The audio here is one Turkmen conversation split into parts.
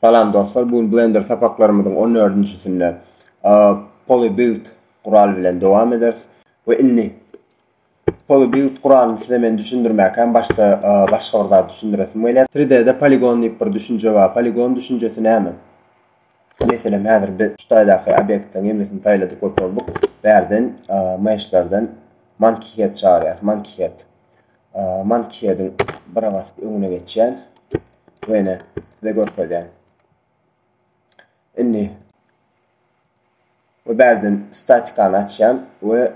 Salam dostlar, bu gün Blender sapaklarymyzyň on dördünjisinde PolyBuild guraly bilen dowam ederis we indi PolyBuild guralyny size men düşündirmäkäm başda başga bir zat düşündiresim gelýär. 3D-de poligon diýip bir düşünje bar. Poligon düşünjesi näme? Meselem, häzir biz şu taýdaky obýektleriň hemmesini saýladyk we bolduk. Bärden meshlerden monkey head çagyrýas, monkey head. Mankýediň bira basyp öňüne geçýän we ine size görkezýän. Indi we bärden statikany açýan we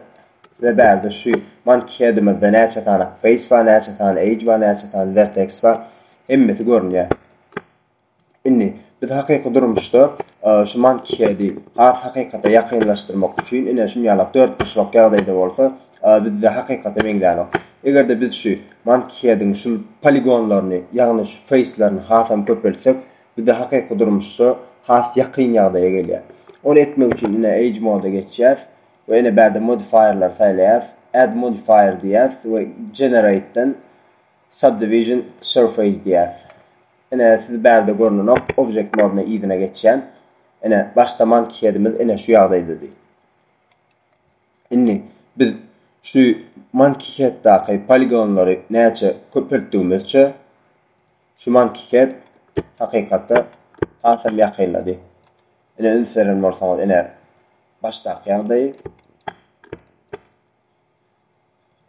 size bärde şu mankýedimizde näçe sany face bar, näçe sany age bar, näçe sany vertex bar, hemmesi görünýär. Indi, biz hakyky durmuşda şu Mankiheadi has hakykata ýakynlaşdyrmak üçin, ine, şuny ýalak dörtburçlak ýagdaýda bolsa, bizde hakykata meňzänok. Eger-de biz şu Mankiheadiň şul poligonlaryny, ýagny şu feýslerini hasam köpeltsek, bize hakyky durmuşda has ýakyn ýagdaýa gelýär. Ony etmek üçin, ine, Age Mode-a geçýäs we ine bärde Modifier-leri saýlaýas, Add Modifier diýýäs we Generate-den Subdivision Surface diýýäs. Ine, siz bärde görnenok Object Modne yzyna geçýän. Ine, başda Monkey Headimiz ine şu ýagdaýdady. Indi biz şu Monkey Headdäki poligonlary näçe köpeltdigimizçe şu Monkey Head hakykata hasam ýakynlady. Ine, üns beren bolsaňyz, ine başdaky ýagdaýy.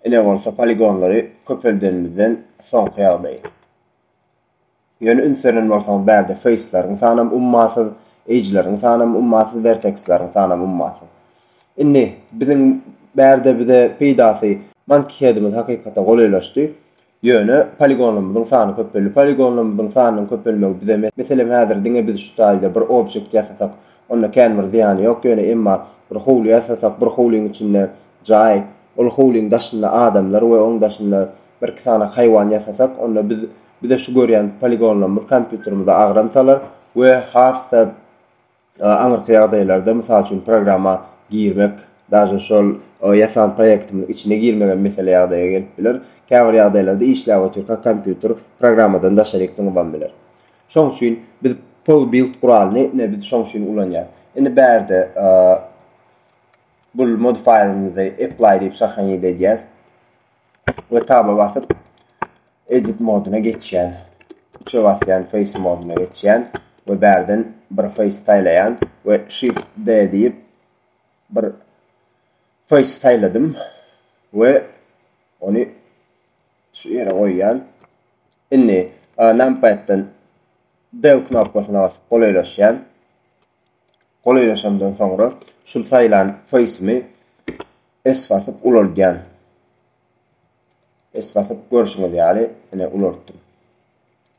Ine bolsa poligonlary köpeldenimizden soňky ýagdaýy. Ýöne üns beren bolsaňyz bärde feýsleriň sanam ummasyz, eýjleriň sanam ummasyz, werteksleriň sanam ummasyz. Indi biziň bärde bize peýdasy Monkey Head'imiz hakykata golaýlaşdy. Ýöne poligonlarymyzyň sany köpeldi. Poligonlarymyzyň sanynyň köpelmegi bize meselem häzir diňe biz şu taýda bir objekt ýasasak onda kän bir zyýany ýok ýöne emma bir howly ýasasak bir howlyň içinde jaý ol howlyň daşynda adamlar we oň daşynda Birki sany haýwan ýasasak, onda biz bize şu görýän poligonlarymyz kompýuterimize agram salar we has-da aňyrky ýagdaýlarda, mysal üçin, programma girmek, daže şol ýasan proýektimiziň içine girmegem mesele ýagdaýa gelip biler. Käbir ýagdaýlarda işläp otyrka kompýuter programmadan daşaryk zyňybam biler. Şoň üçin biz PolBuild guralyny ine biz şoň üçin ulanýarys. Indi bärde bul modifierimizi apply diýip şahaňyt edýäs. we taba basyp edit moduna geçýän. Üçe basýan face moduna geçýän we bärden bir face saýlaýan we shift D diýip bir face saýladym we ony şu ýere goýýan. Indi e, numpaddan D knopkasyna basyp golaýlaşýan. Golaýlaşandan soňra şul saýlan face'imi S basyp ulaldýan. S basyp görşüňiz ýaly ine ulaltdym.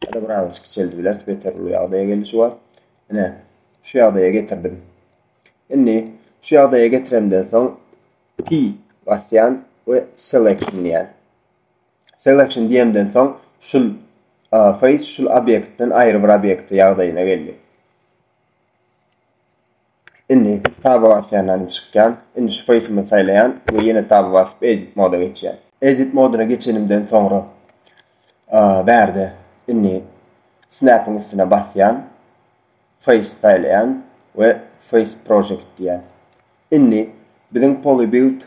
Ýa-da biraz kiçeldi bileris beter uly ýagdaýa geldi şu wagt. Ine şu ýagdaýa getirdim. Indi şu ýagdaýa getiremden soň P basýan we selection diýýän. Selection diýemden soň şul face şul obýektden aýry bir obýekte ýagdaýyna geldi. Indi taba basýanlarym çykýan. Indi şu face'imi saýlaýan we ýene taba basyp edit moda geçýän. Edit moduna geçenimden soňra bärde indi snap'yň üstüne basýan. Face saýlaýan we face project diýýän. Indi biziň polybuild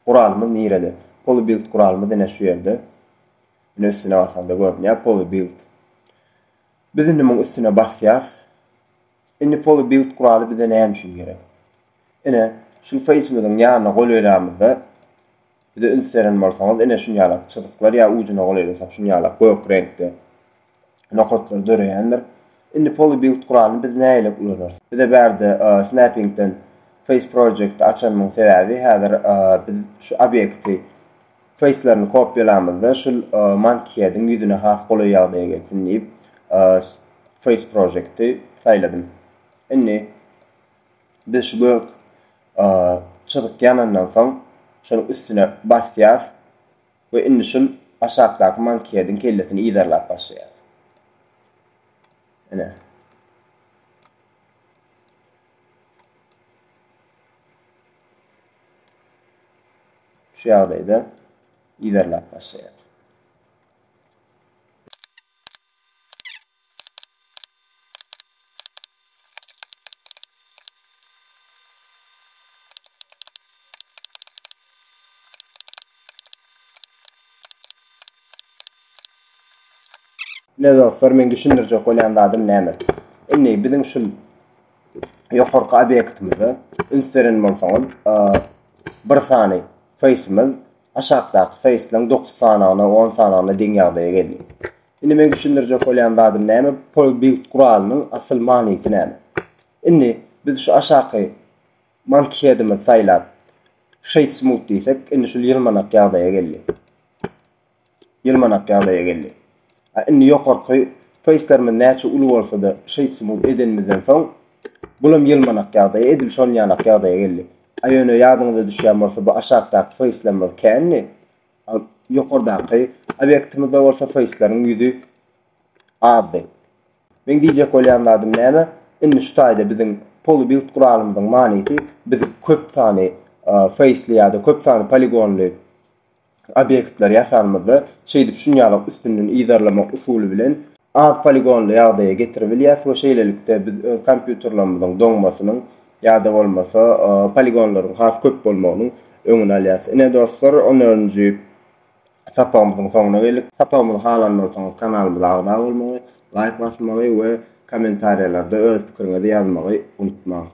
guralymyz nirede? Polybuild guralymyz ine şu ýerde. Ine üstüne basanda görünýär polybuild. Biz indi muň üstüne basýas. Indi poly build guraly bize näme üçin gerek? Ine, şul face-miziň ýanyna golaýlamyzda bize üns beren bolsaňyz, ine şunýalak çyzyklar ýa ujuna golaýlasak şunýalak gök reňkde nokatlar döreýändir. Indi poly build guralyny biz nägilek ulanarys? Bize bärde snapping-den face project-i açanymyň sebäbi häzir biz şu obýekti Feýslaryny kopýalamyzda şul Monkeyhead-iň ýüzüne has golaý ýagdaýa gelsin diýip Face Project-i saýladym. Indi biz şu gök çyzyk ýanandan soň şonuň üstüne basýas we indi şul aşakdaky Monkeyhead-iň kellesini yzarlap başlaýas. Ine. Şu ýagdaýda iberläp başlaýar. Ine dostlar, meň düşündirjek bolýan zadym näme? Indi biziň şu ýokarky obýektimize üns beren bolsaňyz, bir sany feýsimiz aşakdaky feýsleň 9 sanagyna, 10 sanagyna deň ýagdaýa geldi. Indi meň düşündirjek bolýan zadym näme? Pol build guralynyň asyl manysy näme? Indi biz şu aşaky Mankheadimiz saýlap shade smooth diýsek indi şul ýylmanak ýagdaýa geldi. Ýylmanak ýagdaýa geldi. A indi ýokarky facelerimiz näçe uly bolsada shade smooth edenimizden soň bulam ýylmanak ýagdaýa edil şol ýanak ýagdaýa geldi. A ýöne ýadyňyza düşýän bolsa bu aşakdaky facelerimiz kändi. A ýokardaky obýektimizde bolsa faceleriň ýüzi azdy. Meň diýjek bolýan zadym näme? Indi şu taýda biziň polybild guralymyzyň manysy biz köp sany feýsli ýa-da köp sany poligonly obýektleri ýasanymyzda şeýdip şunýalak üstünden yzarlamak usuly bilen az poligonly ýagdaýa getirip bilýäs we şeýlelikde biz öz kompýuterlerimiziň doňmasynyň ýa-da bolmasa poligonlaryň has köp bolmagynyň öňüni alýas. Ine dostlar, on dördünji sapagymyzyň soňuna geldik. Sapagymyzy halan bolsaňyz kanalymyza agza bolmagy, laýk basmagy we kommentariýalarda öz pikiriňizi ýazmagy unutmaň.